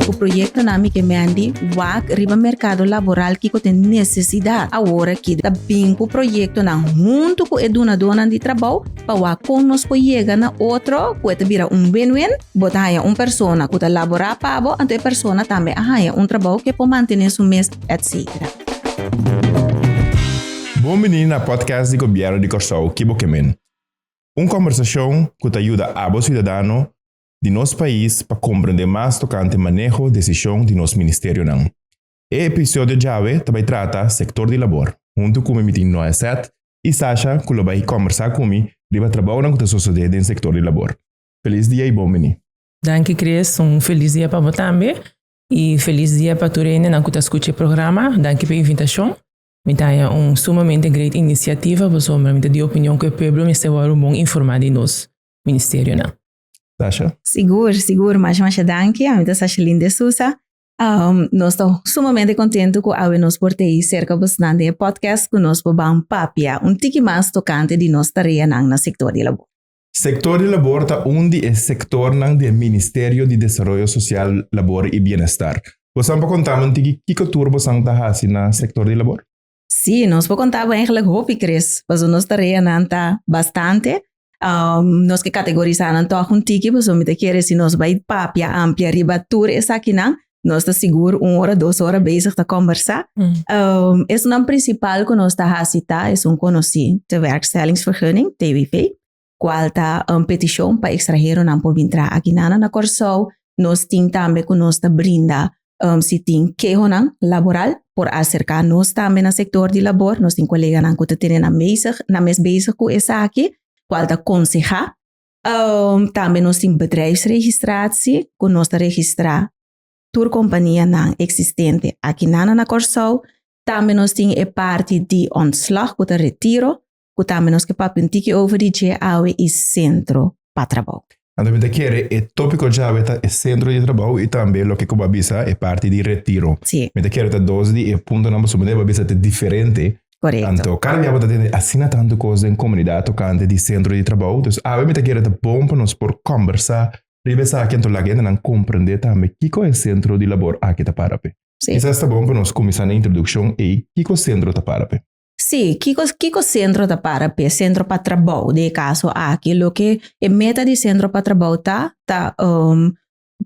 Ku proyektonan mi ke Mandy wak riba merkado laboral kiko ta e nesesidat. Awor aki ta bin ku proyektonan huntu ku e dunadonan di trabou pa wak kon nos por yega na otro ku e ta bira un win-win, bo ta haña un persona ku ta laborá pa bo anto e persona tambe a haña un trabou ku e por mantené su mes, etc. Bon bini na podcast di Gobièrnu di Kòrsou, Kibokemen. Un kòmbersashon ku ta yuda abo siudadano di nos pais pa komprendé mas tokante maneho desishon di nos ministerionan. E episodio djawe ta bai trata sektor di labor. Huntu ku mi mi tin Noeset i Sasha ku lo bai kòmbersá ku mi riba trabounan ku ta sosodé den sektor di labor. Felis dia i bon bini! Danki Chris, un felis dia pa bo tambe i felis dia pa tur hendenan ku ta skucha e programa. Danki pa e invitashon. Mi ta haña un sumamente great iniciativa pasobra mi ta di opinion cu e pueblo mester wordo bon informa di nos ministerionan. Sasha. Sigur, sigur. Masha masha danki. Ami ta Sashalin de Sousa. Nos ta sumamente contento cu awe nos por tei cerca bosonan den e podcast cu nos por ban papia un tiki mas tocante di nos tareanan na sector di labor. Sektor di labor ta un di e sektornan di e Ministerio di Desaroyo Sosial, Labor i Bienestar. Bosan por kontanan tin kiko tur bosan ta hasi na sektor di labor? Sí, nos por konta bo eigenlijk hopi, Chris, paso nos tareanan ta bastante. Nos ke kategorisanan tòg un tiki, paso mi ta kere si nos bai papia amplia riba tur esakinan, Nos ta sigur un ora, dos ora bezig ta conversa. Mm. Um, es naam principal que nos ta hasita es un conocí de werkstellingsvergunning, TWV, cual ta un petición para extranjero nan por vintra aquí nana na Corsou. Nos tin tambe que nos ta brinda um, si tin quejo nan laboral por acerca nos tambe na sector de labor. Nos tin colega nan que te tiene na bezig, na mes bezig cu esaki, cual ta conseja tambe nos tin bedrijfsregistratie cu nos ta registra tur companianan existente aki nan na Kòrsou, tambe nos tin e parti di ontslag cu ta retiro cu tambe nos ke papia un tiki over di dje awe y centro pa trabou. Anto mi ta kere e topico djawe ta e centro di trabou y tambe loke cu bo a bisa e parti di retiro. Si. Mi ta kere ta dos di e puntonan pasobra bo debe a bisa ta diferente Anto, kada bia bo ta tende asina tantu kos den komunidat tokante di sentro di trabou. Dus awe mi ta kere ta bon pa nos por kombersá riba esaki anto laga hendenan komprendé tambe kiko e sentro di labor aki ta para p'e. Sí. Kisas ta bon pa nos kuminsá na introdukshon ei kiko sentro ta para p'e. Sí, kiko kiko sentro ta para p'e, sentro pa trabou den e kaso aki. Loke e meta di sentro pa trabou ta, ta, um,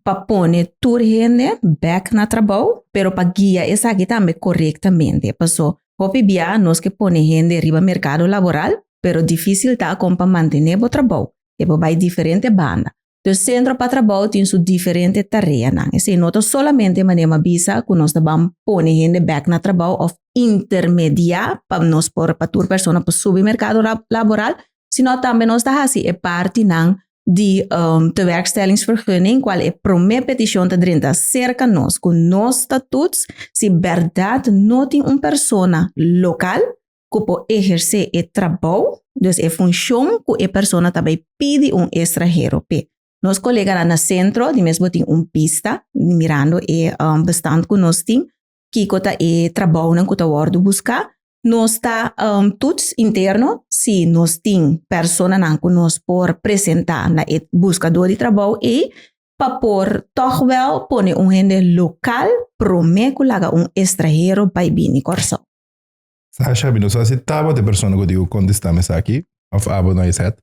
pa pone tur hende bek na trabou, pero pa guia esaki tambe korektamente. Paso, hopi bia nos ke pone hende riba merkado laboral, pero difísil ta kon pa mantené bo trabou. E por bai diferente banda. Tur sentro pa trabou tin su diferente tareanan. Esei no ta solamente manera m'a bisa ku nos ta ban pone hende bek na trabou òf intermediá pa nos por pa tur persona por subi merkado laboral, sino tambe nos ta hasi e partinan di um, tewerkstellingsvergunning, cual e prome peticion ta drenta cerca nos, cu nos ta toets si berdad no tin un persona local cu po ejerce e trabou, dus e funcion cu e persona ta bay pidi un extranhero pe. Nos coleganan na centro, di mesbo tin un pista, mirando e um, bestand cu nos tin, kiko ta e trabounan ku ta wòrdu buska. Nos ta tuts interno si nos tin personanan ku nos por presentá na e buskadó di trabou ei pa por tòg wèl pone un hende lokal promé ku laga un estranhero bai bini Kòrsou. Sasha, mi no sa si tabata e persona ku tin ku kontestá mesaki òf abo no esèt.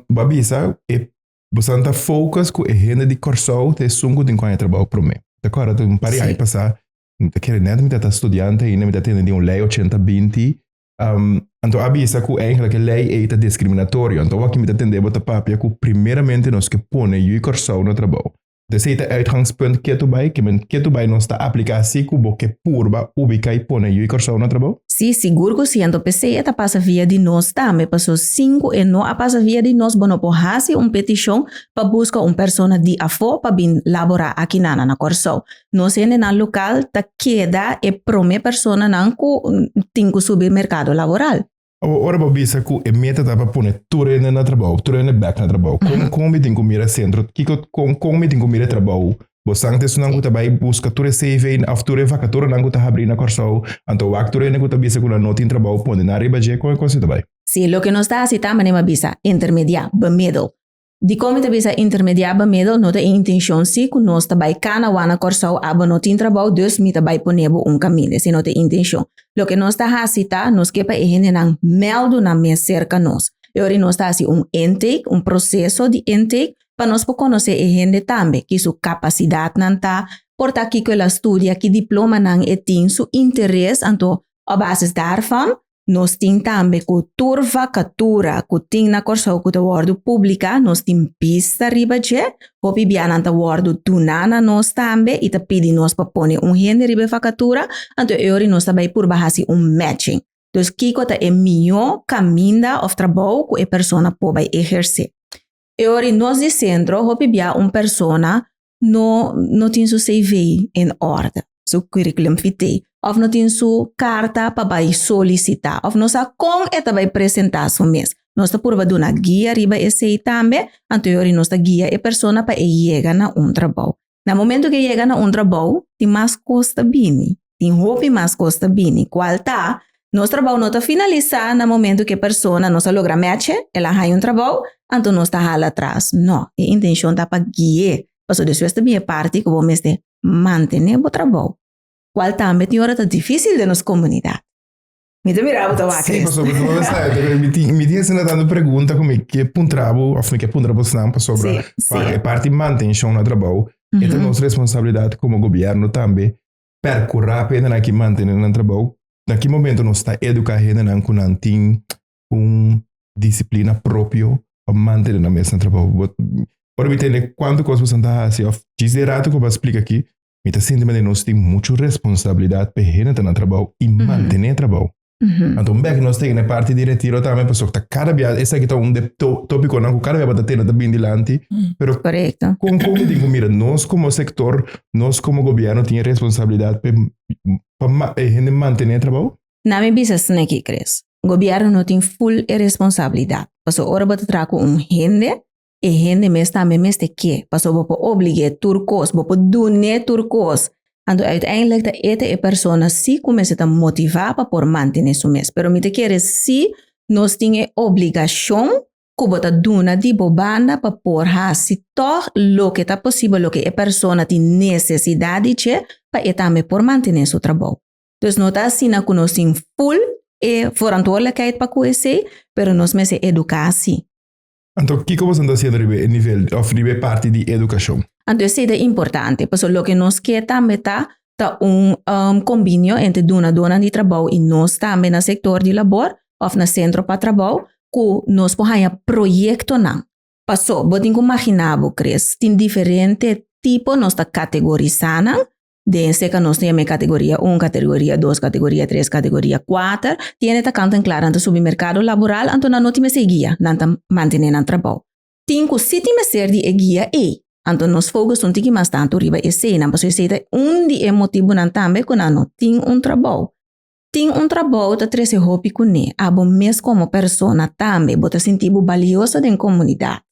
Bo a bisa e Bosan ta focus cu e hende di Corsou ta esun cu tin cu aña trabao prome. Ta acorda ta un par di aña pasa, mi ta kere net mi ta ta studiante ainda, mi ta tende di un ley ochenta binti, um, anto a bisa cu eigenlijk e ley ei ta discriminatorio. Anto awor aki mi ta tende bo ta papia cu primeramente nos ke pone Ui Corsou na trabao. Des ei ta uitgangspunt ketu bai, ke men ketu bai nos ta apliká sí ku bo ke purba ubiká i pone Yu i Kòrsou na trabou. Sí, sigur ku siento p'esei e ta pasa via di nos tambe, paso sin ku e no a pasa via di nos bo no por hasi un petishon pa buska un persona di afó pa bin laborá akinana na Kòrsou. Nos hendenan lokal ta keda e promé personanan ku tin ku subi merkado laboral. Awa ora bo bisa cu e meta ta pa pone tur hende na trabou, tur hende bek na trabou, con, con mi tin cu mira e centro, kico, con, con mi tin cu mira e trabou? Bo san cu esonan cu ta bay busca tur e cv of tur e vacaturanan cu ta habri na Corsou, anto wak tur hende cu ta bisa cu nan no tin trabou pone nan riba dje, con e cos ei ta bay? Si loke nos ta haci ta manera mi a bisa, intermedia, bemiddel, Dikon mi ta bisa intermediá bamedo no ta e intencion si cu nos ta bai cana wak na Corsou abo no tin trabou dus mi ta bai ponebo un camin ese no ta e intencion loke nos ta haci ta nos ke pa e hendenan meldu nan mes cerca nos e ora nos ta haci un intake un proceso di intake pa nos por conoce e hende tambe ki su capacidad nan ta por ta kico el a studia ki diploma nan e tin su interes anto op basis daarvan Nos tin tambe cu tur vacatura cu tin na Corsou cu ta wordo publica, nos tin pista riba dje. Hopi bianan ta wordo duna na nos tambe y ta pidi nos pa pone un hende riba e vacatura, anto e ori nos ta bay purba haci un matching. Dus kico ta e miyo caminda of trabou cu e persona por bay eherce? E ori nos di centro hopi bia un persona no no tin su CV en orde, su curriculum vitae of no tin su carta pa bay solicita of no sa con e ta bay presenta su mes. Nos ta purba duna guia riba esey tambe, anto yori nos ta guia e persona pa e yega na un trabao. Na momento ke yega na un trabao tin mas cos ta bini. tin hopi mas kos ta bini, kual ta, nos trabou no ta finalisá na momentu ku e persona nos a logra mètch'e, el a haña un trabou, anto nos ta hala atras. Nò, e intenshon ta pa gui'é, pasobra despues ta bin e parti ku bo mester mantené bo trabou, kual tambe tin ora ta difísil den nos komunidat. Mi ta mira bo ta wak, Chris. Sí, pasobra bo ta sa e ta mi tin mi tin asina tantu pregunta ku mi ke puntra bo òf mi ke puntra bo esnan pasobra Sí, sí. e parti mantenshon na trabou e ta nos responsabilidat komo gobièrnu tambe percurá pa hendenan aki mantené nan trabou. Na ki momento nos ta educá hendenan cu nan tin un disciplina propio pa mantené nan mes na trabou. Bo, ora mi tende cuantu cos bosan ta haci of djis de rato cu bo a splica aki, mi ta sinti manera nos tin mucho responsabilidad pa hende ta na trabou y mantené trabou. Anto un bek nos teken e parti di retiro tambe paso ta cada bia esaki ta un de to, tópico nan ku cada bia bata tena ta bin dilanti. Pero Correcto. kon kon mi tin ku mira nos como sector, nos como gobierno tin e responsabilidad pe pa ma, e hende mantene trabou? Na mi bisa sneki Chris. Gobierno no tin full e responsabilidad. Paso ora bo ta traha ku un hende, e hende mes tambe mester ke, pasobra bo por oblig'é tur kos, bo por dun'é tur kos, anto uiteindelijk ta e ta e persona sí ku mester ta motivá pa por mantené su mes. Pero mi ta kere sí nos tin e obligashon ku bo ta duna di bo banda pa por hasi tòg loke ta posibel, loke e persona tin nesesidat di dje pa e tambe por mantené su trabou. Entonces no ta asina ku nos tin ful e vorantwoordelijkheid pa ku esei, pero nos mester eduká sí. Anto kiko boso ta hasiendo riba e nivel of riba e parti di edukashon? Anto e sey ta importante pasobra loke nos ke tambe ta ta un um kombinio entre dunadonan di trabou i nos tambe na sektor di labor of na sentro pa trabou ku nos por haña proyektonan. Paso bo tin ku magina bo Chris tin diferente tipo nos ta kategorisá nan Den seca nos ta yam'é categoria un, categoria dos, categoria tres, categoria cuater, tiene ta kanten kla nan ta subi merkado laboral anto nan no tin mester e guia, nan ta mantené nan trabou. Tin ku si tin mester di e guia ei, anto nos focus un tiki mas tantu riba eseinan pasobra esei ta un di e motibunan tambe ku nan no tin un trabou. Tin un trabou ta trese hopi kuné, abo mes komo persona tambe bo ta sinti bo balioso den komunidat,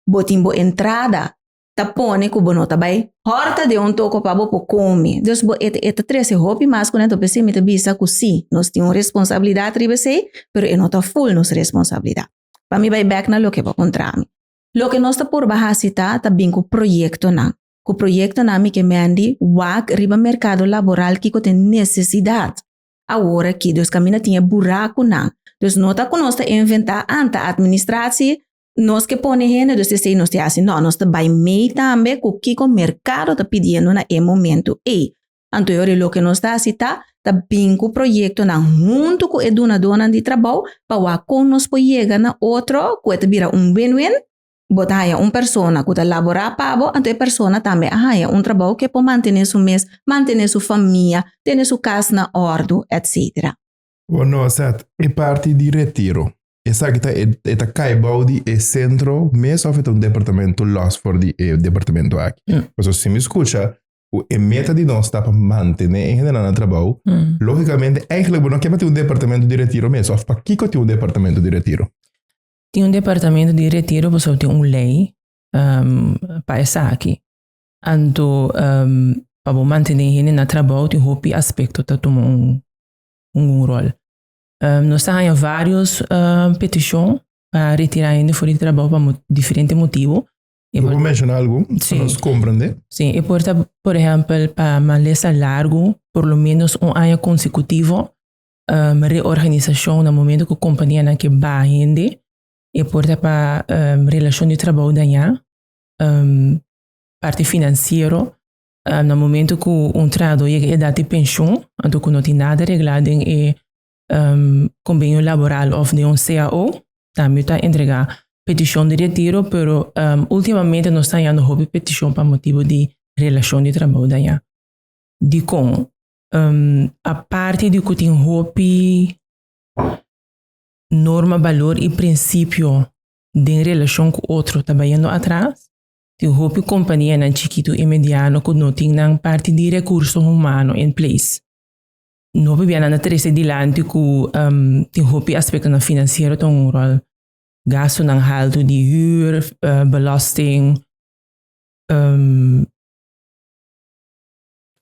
bo tin bo entrada ta pone cu bo no ta bay. Horta den un toco pa bo por come. Dus bo eta e ta trece hopi mas cu nento p'esey mi ta bisa cu si, nos tin un responsabilidad riba esey, pero e no ta full nos responsabilidad. Pa mi bay bek na loke bo contra mi. Loke nos ta purba haci ta ta bin cu proyectonan. Cu proyectonan mi ke mendi wak riba mercado laboral kico ta e necesidad awor aki. Dus caminda tin e buracunan. Dus no ta cu nos ta inventa anta administratie Nos ke pone hende dus esei nos te hasi? No, nos ta bai mei tambe ku kiko merkado ta pidiendo na e momento ei. Anto yo ri loke nos ta hasi ta ta bin ku proyektonan huntu ku e dunadonan di trabou pa wak kon nos por yega na otro ku e ta bira un win-win, bo ta haña un persona ku ta laborá pa bo anto e persona tambe a haña un trabou ku e por mantené su mes, mantené su famia, tene su kas na òrdu, etcétera. Bo no a sat e parti di retiro. Esaki ta e, e ta kai bou di e sentro mes of e ta un departamento los for di e departamento aki. Mm. Paso si mi escucha, cu e meta di nos ta pa mantene e hende na trabou, Mm. logicamente eigenlijk bo no ke pa tin un departamento di retiro mes of pa kiko tin un departamento di retiro. Tin un departamento di retiro paso tin un lei ehm, pa esaki. Anto ehm, pa bo mantene hende na trabou tin hopi aspecto ta tuma un un, un rol. Um, nos ta haña varios um, peticion pa retira hende for di trabao pa mo diferente motivo. E por menciona algo, sí. nos comprende. Sí, e por por ejemplo, pa malesa largo, por lo menos un año consecutivo, um, reorganización na momento que compañía na que ba hende, e por pa um, relación de trabao daña, um, parte financiero, Ah, na momento cu un trahador yega edad di pension, anto cu no tin nada regla den e em, conbenio laboral of den un cao, tambe yo ta entrega peticion di retiro, pero em, ultimamente nos ta hayando hopi peticion pa motibo di relacion di trabou daña. Dicon? Em, aparte di cu tin hopi norma, balor y principio den relacion cu otro ta bayendo atras, Tin hopi kompanianan chikitu i mediano ku no tin nan parti di rekurso humano en ples. Un hopi bia nan ta trese dilanti ku tin hopi aspektonan finansiero ta un ròl, gastunan haltu di hür, belòsting,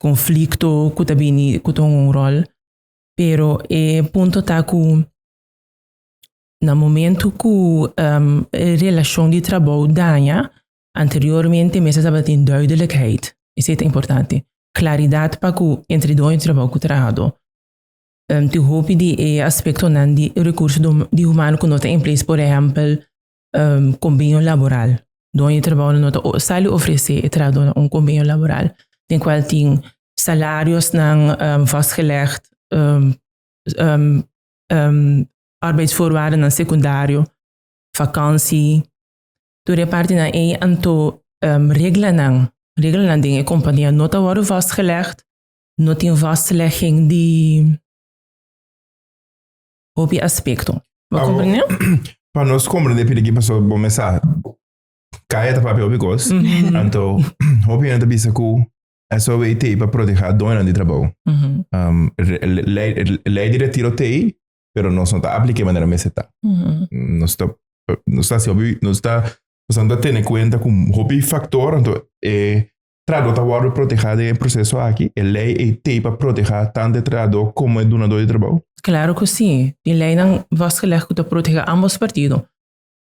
konflikto ku ta bini ku ta un ròl. Pero e punto ta ku Na momento cu e relacion di trabou daña, anteriormente mester tabatin duidelijkheid. Esey ta importante. Claridad pa cu entre doño trabou cu trahador. Tin hopi di e aspectonan di recurso di humano cu no ta in place, por ehempel conbenio laboral. Doño di trabounan no ta sali ofrece e trahadornan un conbenio laboral den cual tin salariosnan vastgelegd. arbeidsvoorwaardennan secundario, vakansi, tur e partenan ei anto reglanan, reglanan den e compania no ta worde vastgelegd, no tin vastlegging di hopi aspecto. Bo comprende? Pa nos comprende pidi kipaso bo mesa caya ta papia hopi cos, anto hopi hende ta bisa cu SOW tei pa proteha doñonan di trabao. Ley, ley directivo tei pero nos no ta aplique manera mese ta. Mm -hmm. Nos ta, nos ta, nos ta, nos ta tener cuenta con hopi factor, entonces, eh, trado ta worden proteja de proceso aquí, el ley e te pa proteja tanto el trado como el donador de trabajo? Claro que sí, el ley nan vastgelegd que ta proteja ambos partidos.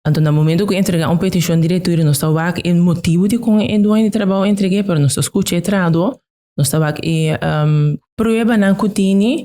Entonces, na momento que entrega un petición directorio, nos ta wak el motivo de con el dueño de trabajo entregue, pero nos ta escucha el trado, nos ta wak e um, prueba nan que tiene,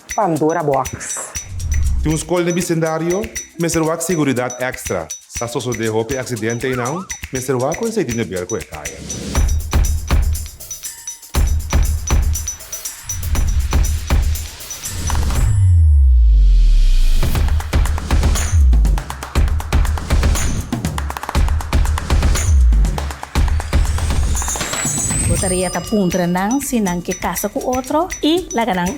Pandora Box. Tin un skol den bisindario, mester wak siguridat èkstra, sa sosodé hopi aksidente ei nau, mester wak ku esei tin di ber ku e kaya. Bo taria ta puntra nan si nan ke kasa ku otro i laga nan.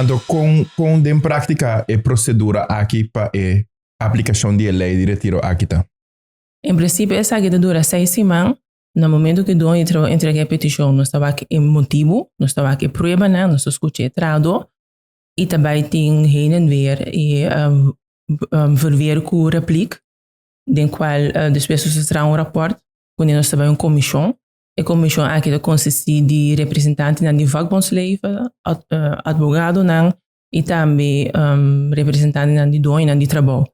Anto kon pon den práktika e prosedura aki pa e aplikashon di e lei di retiro aki ta? En prinsipio esaki ta dura seis siman na momentu ku e dueño di trabou entrega e petishon. Nos ta wak e motibu, nos ta wak e pruebanan, nos ta skucha e trahadó i ta bai tin heen en weer i volver ku replik den kual despues nos ta traha un rapòrt ku ne nos ta bai un komishon. E komishon aki ta konsistí di representantenan di vakbondsleven, atbogadonan i tambe representantenan di doñonan di trabou.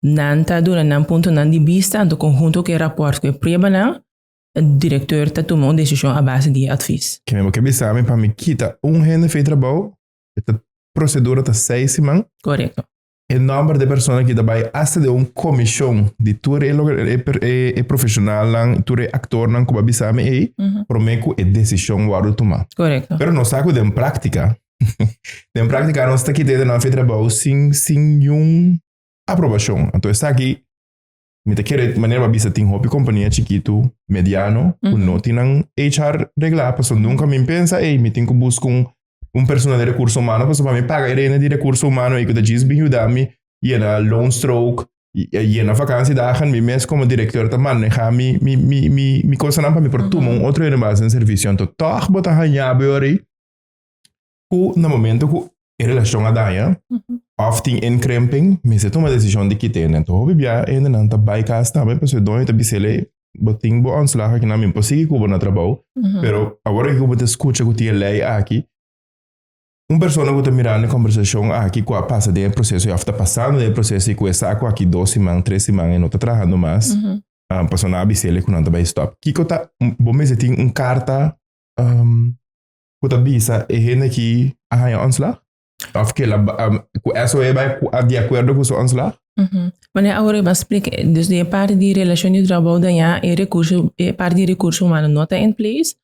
Nan ta duna nan puntonan di bista anto con hunto cu e raport cu e pruebanan, e directeur ta tuma un decision a base di e advies. Kende bo ke bisa mi pa mi kita un hende fei trabou, e ta procedura ta seis siman. Correcto. e nomber de persona ki ta bai asta de un comishon di tur e, loke- e, per- e, e profesionalnan, tur e actornan ku ba bisa mi ei, Ujú. prome ku e decision wordo tuma. Correcto. Pero nos sa ku den práctica, den práctica nos ta kita nan fe trabou sin, sin yun aprobacion. Anto esaki, Mi ta kere manera pa bisa tin hopi kompania chikitu, mediano, ku no tin nan HR reglá, paso nunka mi pensa, ei, mi tin ku buska un, un persona di rekurso humano, paso pa mi paga e renta di rekurso humano ei ku ta djis bin yuda mi yena loan stroke, y- eh, yena vakantiedagen, mi mes komo direkteur ta maneha mi, mi, mi, mi, mi kosanan pa mi por tuma un otro herënbase den servisionan. Tò, tòg bo ta hañá bo yoris, Ku na momento ku e relashon a daña, of tin inkrimping, mester tuma desishon di kita hende. Nto hopi bia hendenan ta bai kas tambe pasobra e doño ta bisele, Bo tin bo ontslag aki, nan mi por sigui ku bo na trabou, pero awor aki ku bo ta skucha ku tin e lei aki, un persona ku ta mirando e kombersashon aki ku a pasa den e proseso i of ta pasando den e proseso i ku e sa ku aki dos siman, tres siman e no ta trahando mas, pasobra nan a bisele ku nan ta bai stòp. Kiko ta, bo mester tin un karta? cu ta bisa e hende aki a haya ontslag? Of que la, um, cu eso e bai cu- de acuerdo cu su ontslag? Ujú. Mané ahora iba explica, eh, dus di e parte di relacion di trabou dañá, e recurso, e parte di recurso humano no ta in place,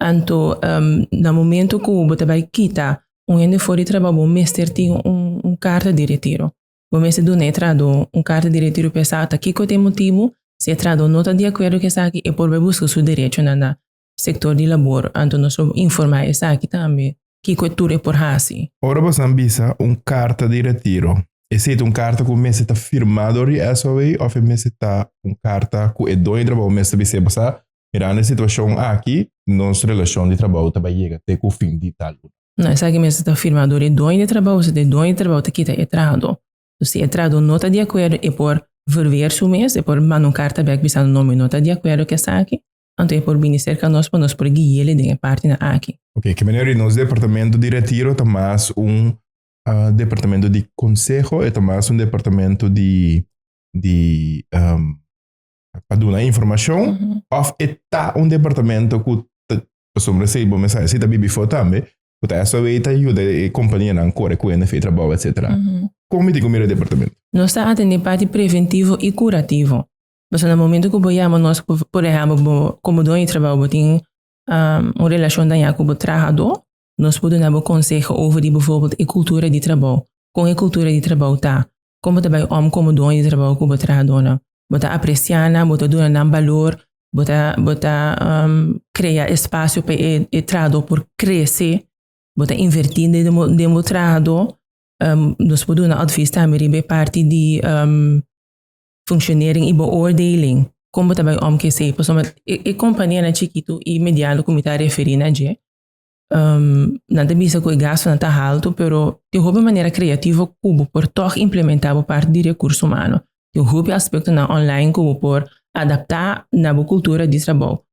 anto ehm na momento cu bo ta bai kita un hende for di trabou bo mester tin un un carta di retiro, bo mester duna e trahador un carta di retiro pa e sa ta kico ta e motibu, si e trahador no ta di acuerdo cu esaki e por bai busca su derechonan na sector di labor, anto nos lo informa esaki tambe kico e tur e por haci. Ora bosan bisa un carta di retiro, esey ta un carta cu mester ta firma door di SOA of e mester ta un carta cu e doño di trabajo mester bisa bosa sa mirando e situacion aki nos relacion di trabajo ta bay yega te cu fin di tal luna? No, esaki mester ta firma door e doño di trabajo si ta e doño di trabajo ta kita e trahador. So si e trahador no ta di acuerdo e por verweer su mes, e por manda un carta bek bisando no mi no ta di acuerdo cu esaki. Anto e por bini serka nos pa nos por guiele den e partenan aki. Ok, ki manera di nos departamento di retiro ta mas un uh, departamento di conseho, e ta mas un departamento di, di um, pa duna informacion, uh -huh. of e ta un departamento cu sombra se bo mensaje si ta bibi fo tambe, cu ta eso ta ayuda e compañía nan corre cu NF trabajo, etc. Uh -huh. Como mi te comida departamento? Nos ta atender parte preventivo y curativo. Pasobra na momento ku bo yama nos ku por ehèmpel bo komo doño di trabou bo tin un relashon dañá ku bo trahadó, nos por duna bo konseho over di bivorbèl e kultura di trabou. Kon e kultura di trabou ta? Kon bo ta bai om komo doño di trabou ku bo trahadónan? Bo ta apresiá nan? Bo ta duna nan balor? Bo ta bo ta krea espasio pa e e trahadó por krese? Bo ta invertí den bo den bo trahadó? Nos por duna òdvis tambe riba e parti di. functionering y beoordeling kon bo ta bay om ke say pasobra e, e companianan chikitu y mediano ku mi ta referi na dje um nan ta bisa ku e gastunan ta haltu pero tin hopi manera creativo ku bo por tog implementa bo parti di recurso humano tin hopi aspectonan online ku bo por adapta na bo cultura di trabou.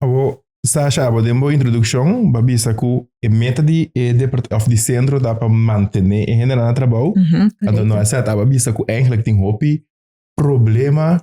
Abo, Sasha, abo den bo introduccion ba bisa cu e meta di e depart of di centro ta pa mantene e hendenan na trabou. Mhm, Anto correcto. no asat, aba bisa cu eigenlijk tin hopi problema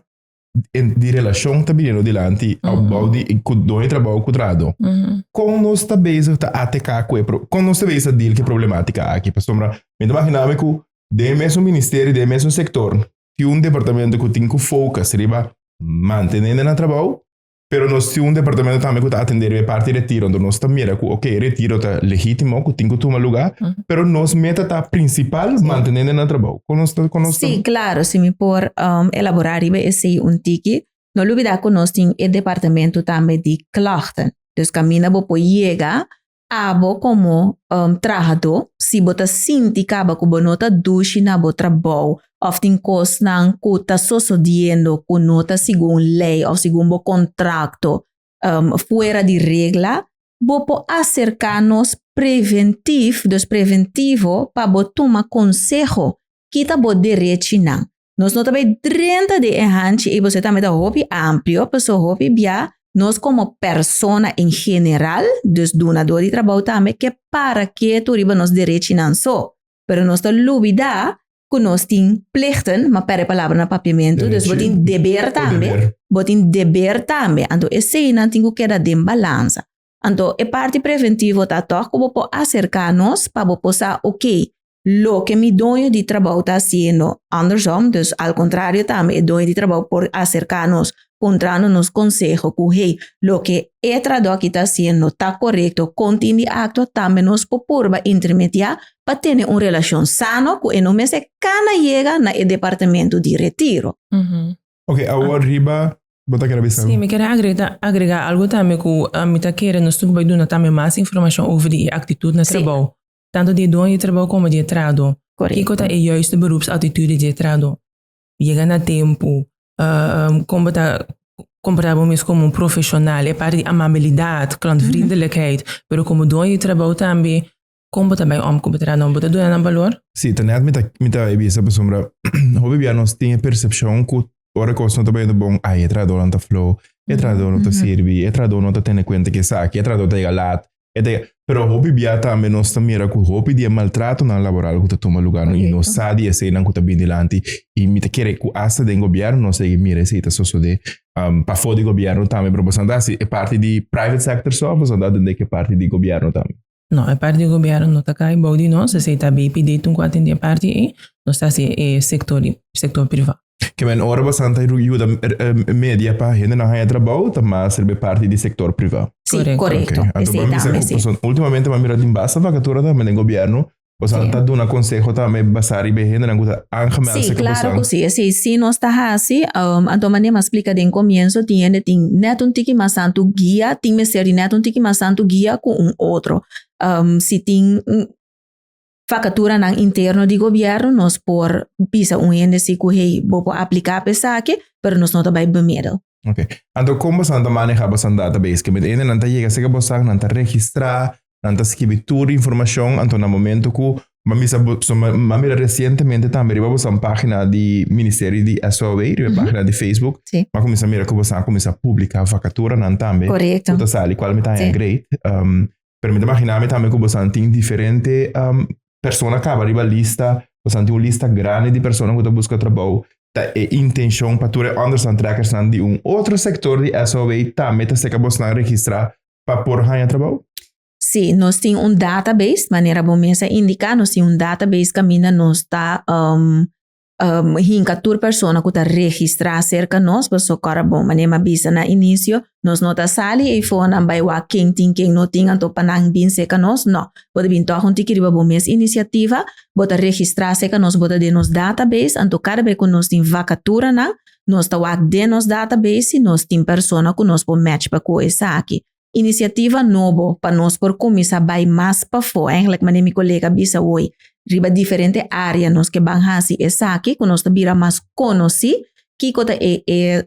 en, di relacion ta biniendo dilanti Mhm. opbouw di cu don e trabou cu trado. Mhm. Con nos ta bezig ta ATK cu e pro, con nos ta bezig ta deal cu e problematica aki? Pasobra mi ta imaginami cu den e mesun ministerio, den e mesun sector tin un departamento cu tin cu focus riba mantene hendenan na trabou Pero nos tin un departamento tambe cu ta atender riba e parti retiro. Entonces nos ta mira cu, ok, retiro ta legítimo, cu tin cu tuma lugar, uh -huh. pero nos meta ta principal sí. mantenendo na trabajo. Con nos, con nos sí, claro, si mi por um, elaborar riba ese un tiki, no olvidar que nos tin e departamento tambe di klachten. Dus camina bo por llega Abo komo trahadó, si bo ta sinti kaba ku bo no ta dushi na bo trabou òf tin kosnan ku ta sosodiendo ku no ta segun lei òf segun bo kontrakto fuera di regla, bo por aserká nos preventif, dus preventivo, pa bo tuma konseho. Kita bo derechinan. Nos no ta bay drenta di e hanchi y bosey tambe ta hopi amplio, paso hopi bia nos como persona en general, dus dunador di trabao tambe, ke para ketu riba nos derechinan so. Pero nos ta lubida cu nos tin plichten, ma per e palabra na Papiamentu, dus bo tin deber tambe, bo tin deber tambe, anto eseynan tin cu keda den balansa. Anto e parti preventivo ta tok ku bo por aserka nos pa bo por sa oke loke mi doño di trabou ta hasiendo andersom, dus al kontrario tambe e doño di trabou por aserka nos puntrando nos konseho ku hey loke e tradó aki ta hasiendo ta korekto kon tin di akto tambe nos por purba intermediá pa tene un relashon sano ku e no mester kana yega na e departamentu di retiro. Ok, awor riba, bo ta kere bisa Sí, algo? mi kere agrega, agrega algo tambe ku ah, mi ta kere nos tin ku bai duna tambe mas informashon over di e aktitut na Sí. trabou. Tantu di e dueño di trabou komo di e trahadó. Korekto. Kiko ta e yuisto berupsatitut di e trahadó? Yega na tempu, ah, ah, kon bo ta komporta bo mes komo un profeshonal, e parti di amabilidat, klòntvriendelijkheid, pero komo dueño di trabou tambe, Kon bo ta bai òm ku bo ta dá nòmber? Bo ta duna nan balor? Sí, ta nèt mi ta mi ta bisa pasobra hopi bia nos tin e persepshon ku ora kos no ta bai bon, ai e trahadó nan ta flou, e trahadó no ta sirbi, e trahadó no ta tene kuenta ku esaki, e trahadó ta yega lat, e ta yega. Pero hopi bia tambe nos ta mira ku hopi di e maltratonan laboral ku ta tuma lugá i no sa di eseinan ku ta bini dilanti i mi ta kere ku asta den gobièrnu nos segui mira esei ta sosodé pafó di gobièrnu tambe. Pero boso a ta hasi e parti di private sector só o boso a ta atendé ku e parti di gobièrnu tambe? No, e parti di gobierno no ta cay bao di nos, esey ta bay pidi tun cu a tende e parti ey, nos ta haci e sector di, sector privado. Ke men ora bastan ta yuda media pa hendenan haya trabao ta master be parti di sector privado. Sí, Correcto. correcto. Anto Esey por mi sa tambe, cu sí. pasobra ultimamente mi a mira tin basta vacatura tambe den gobierno O sea, sí. ta duna consejo tambe basar riba hendenan ku ta aangemeld sí, se claro ku sí. Sí, sí nos ta hasi, um, anto mane mas explica den comienzo, tin hende tin net un tiki mas santo guia, tin mester di net un tiki mas santo guia ku un otro. Um, si tin facatura nan interno di gobierno, nos por bisa un hende si ku hey, bo por aplica pe saki, pero nos no ta bai bemiddel. Ok. Anto, kom bosan ta maneja bosan database? Ke met hende nan ta yega seke bosan, nan ta registra, Nan ta skibi tur di informashon anto na momentu ku Mami sa bo, so, ma- mami era resientemente tambe riba bosan página di Ministerio di SOW, riba Mhm. página di Facebook. Sí. Ma comienza mira ku bosan comienza publica vacatura nan tambe. Correcto. Ku ta sali kual mi ta haya Sí. great. Um, pero mi ta imagina mi tambe ku bosan tin diferente um, persona kaba riba lista. Bosan tin un lista grande di persona ku ta buska trabou. Ta e intenshon pa tur e understand trekkers nan di un otro sector di SOW tambe ta seka bosnan registra pa por haña trabou? Sí, nos tin un database, manera bo mes a indica, nos tin un database caminda nos ta um, um, hinca tur persona cu ta registra cerca nos, pa so cora bo, manera ma bisa na inicio, nos no ta sali e fonan bai wa ken tin ken no tin, anto pa nan bin cerca nos, no. Bo ta bin toch un tiki riba bo mes iniciativa, bo ta registra cerca nos, bo ta den nos database, anto cada bai cu nos tin vacatura nan, Nos ta wak den nos database si nos tin persona ku nos por match pa ku esaki. Inisiativa nobo pa nos por kuminsá bai mas pafó, ègèlèk manera mi kolega a bisa woi, riba diferente área nos ke ban hasi esaki ku nos ta bira mas konosí kiko ta e e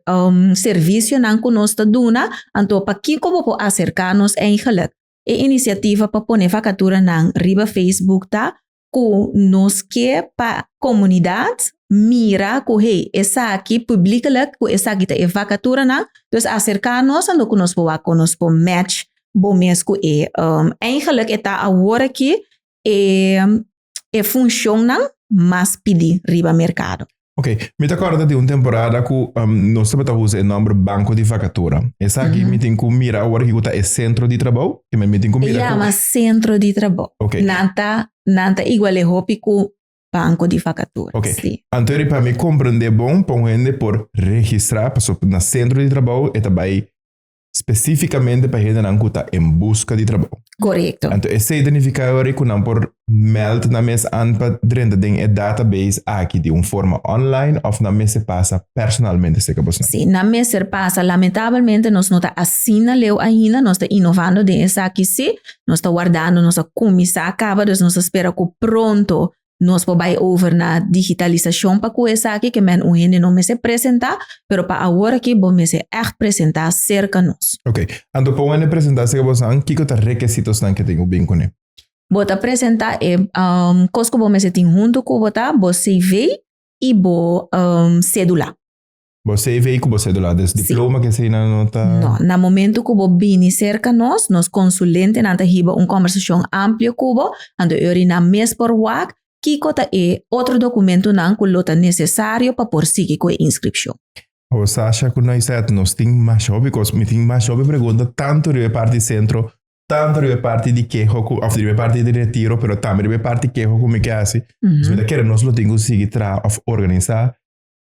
servisionan ku nos ta duna, anto pakiko bo por aserká nos ègèlèk. E inisiativa pa pone fakaturanan riba Facebook ta. ku nos ke pa komunidat mira ku hey esaki publieklik ku esaki ta e vakaturanan dus aserka nos a lo ku nos por wak kon nos por match bo mes ku e eigenlik e ta awor aki e funshonnan mas pidi riba merkado. Ok, mi ta corda di un temporada cu um, nos tabata usa e nomber banco di vacatura. Esaki mi tin cu mira ahora ki cu ta e centro di trabou. Kima mi tin cu E mira cu... llama centro di trabajo. Ok. Nan ta, nan ta igual e hopi cu banco di vacatura. Ok. Sí. Antori pa mi comprende bon pa un hende por registra, paso na centro di trabou e ta bay Specificamente pa hendenan cu ta en busca di trabou. Correcto. Anto esey ta nifica yori cu nan por meld nan mes an pa drenta den e database aki di un forma online of nan mester pasa personalmente seca bosnan? Si, nan mester pasa. Lamentabelmente nos no ta asina leu ainda, nos ta inovando den esaki si, nos ta wardando, nos a cuminsa caba, dus nos ta spera cu pronto Nos por bai over na digitalisacion pa cu esaki ke men un hende no mester presenta, pero pa awor aki bo mester echt presenta cerca nos. Ok, anto pa un hende presenta cerca bosan, kico ta requisitosnan ke tin cu bin cune? Bo ta presenta e um, cos cu bo mester tin hunto cu bo ta, bo CV y bo um, cedula. Bo CV ku bo sedula, des diploma ke eseinan no ta. No, na momento ku bo bini serka nos, nos konsulentenan ta hiba un kòmbersashon amplio ku bo, anto e orinan mes por wak kiko ta e otro dokumentunan ku lo ta nesesario pa por sigui ku e inskripshon. Awor Sasha ku Noisette, nos tin masha hopi kos, mi tin masha hopi pregunta tantu riba e parti di sentro, tantu riba e parti di keho ku, òf riba e parti di retiro, pero tambe riba e parti keho ku mi ke hasi. Pues mi ta kere nos lo tin ku sigui traha òf organisá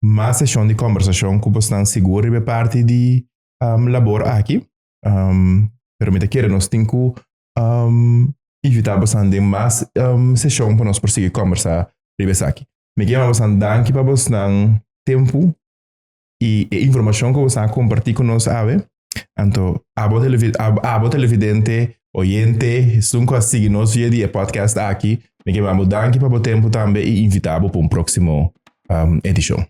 mas seshon di kombersashon ku bosnan sigur riba e parti di um, labor aki. Um, pero mi ta kere nos tin ku um, invita bosnan den mas um, seshon pa nos por sigui kombersa riba esaki. Mi kema bosnan danki pa bosnan tempu i e informashon ku bosnan komparti ku nos awe. Anto, abo, televi ab, abo televidente, oyente, sun ku a sigui nos via di e podcast aki, mi ke bambo danki pa bo tempo tambe i invita bo pa un proksimo um, edishon.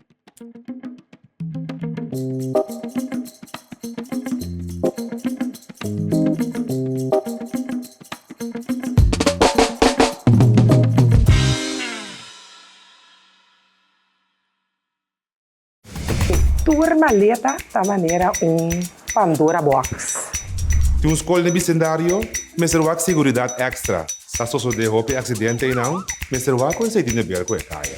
E tur maleta ta manera un Pandora box. Tin un skol den bisendario, mester wak seguridat ekstra. Sa sosodé hopi aksidente einan, mester wak ku ensei di neber ku e kaya.